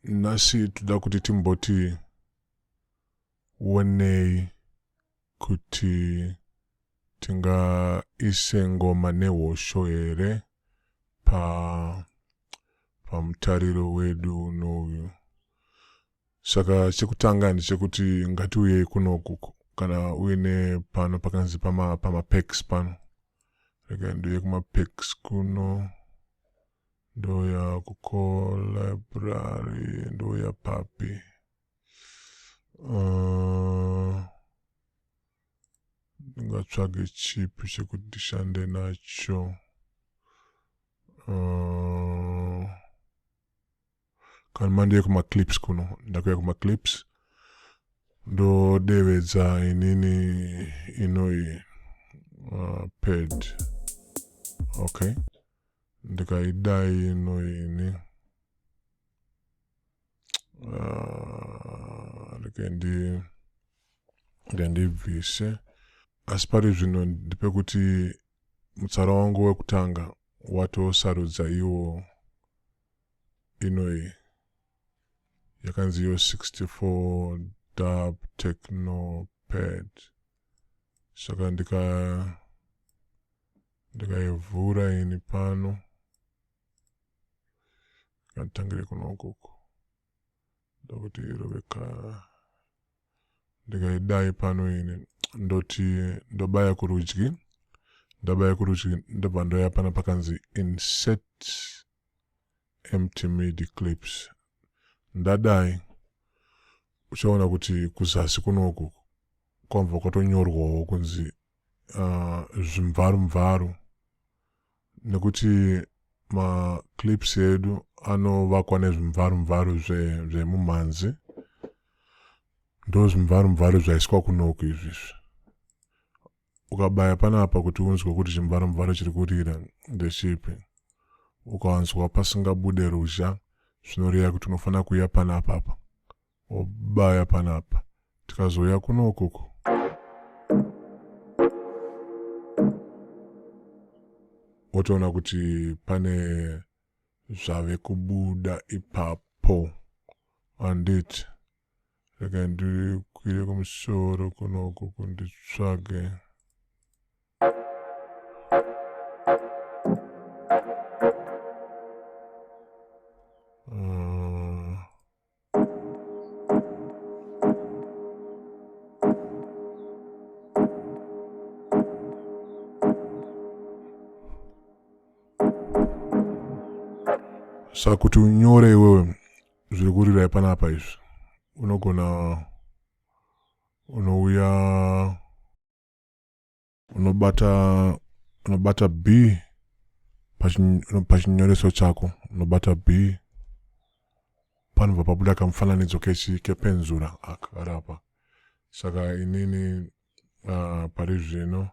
nhasi toda kuti timboti wonei kuti tingaise ngoma nehosho here pa pamutariro wedu unouyu Saka chekutanga ndechekuti ngatiuyei kuno kuku kana uine pano pakanzi pama, pama packs pano rega ndiuye kuma packs kuno ndoya kuko library ndoya papi uh, ndingatsvage chipi chekuti ndishande nacho uh, kana mandiye kumaclips kuno ndakuya kumaclips ndodevedza inini inoyi uh, pad okay ndikaidai inoyi ini uh, rikendi ndendibvise asi pari zvino ndipekuti mutsara wangu wekutanga watosarudza iwo inoyi yakanzi yo 64 dub technopad saka ndika ndikaivhura ini pano nganditangire kuno ukoko ndokuti roveka ndikaidai pano ini ndoti ndobaya kurudyi ndabaya kurudyi ndobva ndoya pana pakanzi insert empty midi clips ndadai uchaona kuti kuzasi kunoku kwamva kwatonyorwawo kunzi uh, zvimvaru mvaru nekuti maclips edu anovakwa nezvimvaru mvaru zvemumhanzi zve ndo zvimvaru mvaru zvaiswa kunoku izvi izvi ukabaya panapa kuti unzwe kuti chimvaru mvaru chiri kurira ndechipi ukawanzwa pasingabude ruzha zvinoreva kuti unofanira kuuya panapapa obaya panapa tikazouya kuno ukoko otoona kuti pane zvave kubuda ipapo anditi rega ndikwire kumusoro kuno ukoko nditsvage saka kuti unyore iwewe zviri kurirai panapa izvi unogona unouya unobata unobata b pachinyoreso chako unobata b panobva pabuda kamufananidzo kechi kepenzura akarapa saka inini uh, pari zvino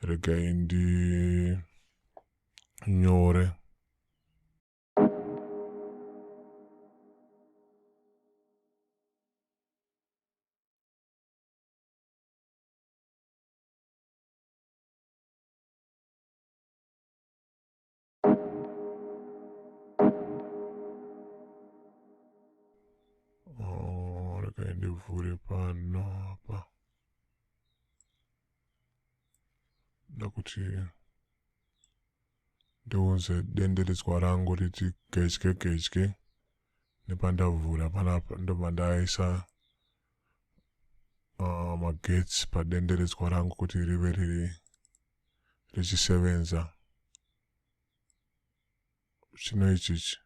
regai ndinyore ndivhure pano apa nda kuti ndiunze denderedzwa rangu riti gedye gedye nepandavhura panapa ndobva ndaisa uh, magetsi padenderedzwa rangu kuti rive riri richisevenza chino ichichi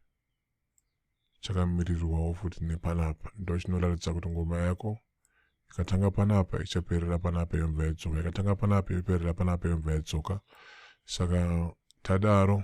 chakamirirwawo futi nepanapa ndo chinoratidza kuti ngoma yako ikatanga panapa ichaperera panapa yobva yadzoka ikatanga panapa yoperera panapa yobva yadzoka saka tadaro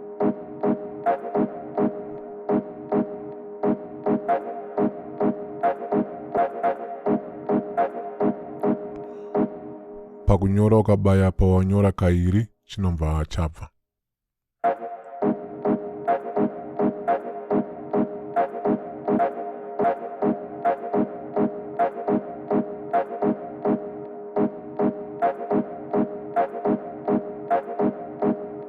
pakunyora ukabaya pawanyora kairi chinobva chabva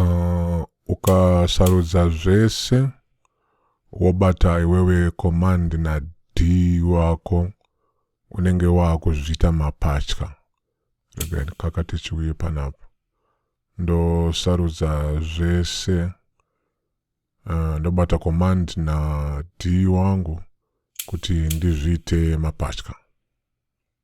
uh, ukasarudza zvese wobata iwewe command na d wako unenge waakuzviita mapatya regai ndikakate chiuye panapa ndosarudza zvese uh, ndobata command na d wangu kuti ndizviite mapatya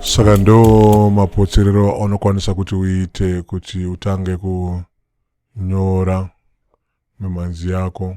saka ndo mapotserero aunokwanisa kuti uite kuti utange kunyora mimhanzi yako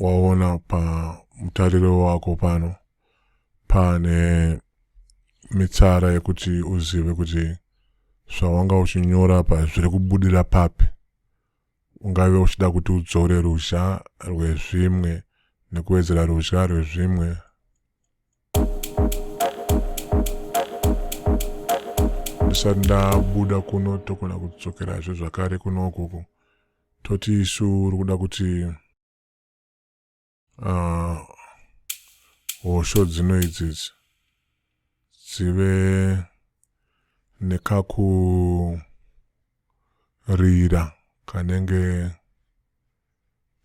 waona pamutariro wako pano pane mitsara yekuti uzive kuti zvawanga uchinyora pa zviri kubudira papi ungave uchida kuti udzore ruzha rwezvimwe nekuwedzera ruzha rwezvimwe ndisati ndabuda kuno togona kudzokerazve zvakare kuno ukuku Toti isu uri kuda kuti uh, hosho dzino idzidzi dzive nekakurira kanenge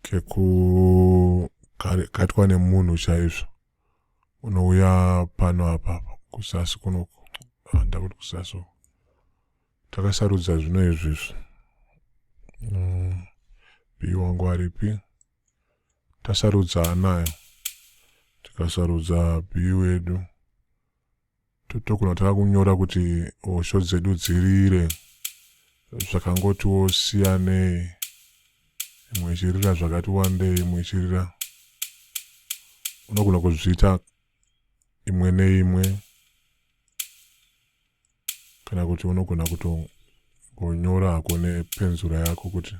kekukaitwa nemunhu chaizvo unouya pano apa kuzasi kuno handakuti kuzasi takasarudza zvino izvizvi mm, bii wangu aripi tasarudza anayo tikasarudza bii wedu totokona taka kunyora kuti hosho dzedu dzirire zvakangotiwo siyanei imwe ichirira zvakati wandei imwe ichirira unogona kuzviita imwe neimwe kana kuti unogona kutongonyora hako nepenzura yako kuti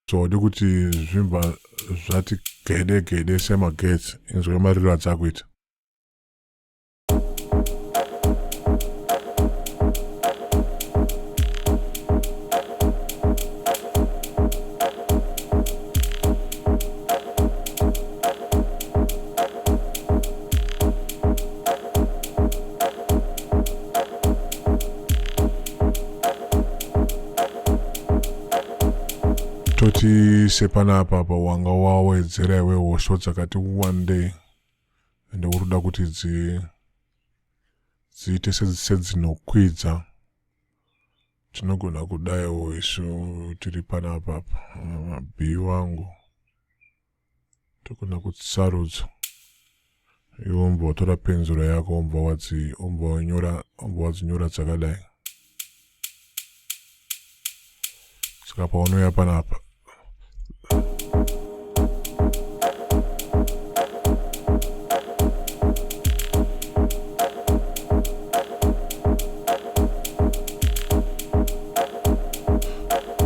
zvaudi kuti zvimba zvati gede gede semagetsi inzwe mariro adzakuita toti sepanapa apa wanga wawedzera iwe hosho dzakati wandei ende uri kuda kuti dzi dziite sedzinokwidza tinogona kudaiwo isu tiri panapa apa mabhii wangu tokona kuti sarudzo iwe umbva watora penzura yako umbva wadzi umbva wanyora umbva wadzinyora dzakadai saka paunouya panapa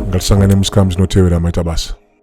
ngatisangane musikam zinotevera maita basa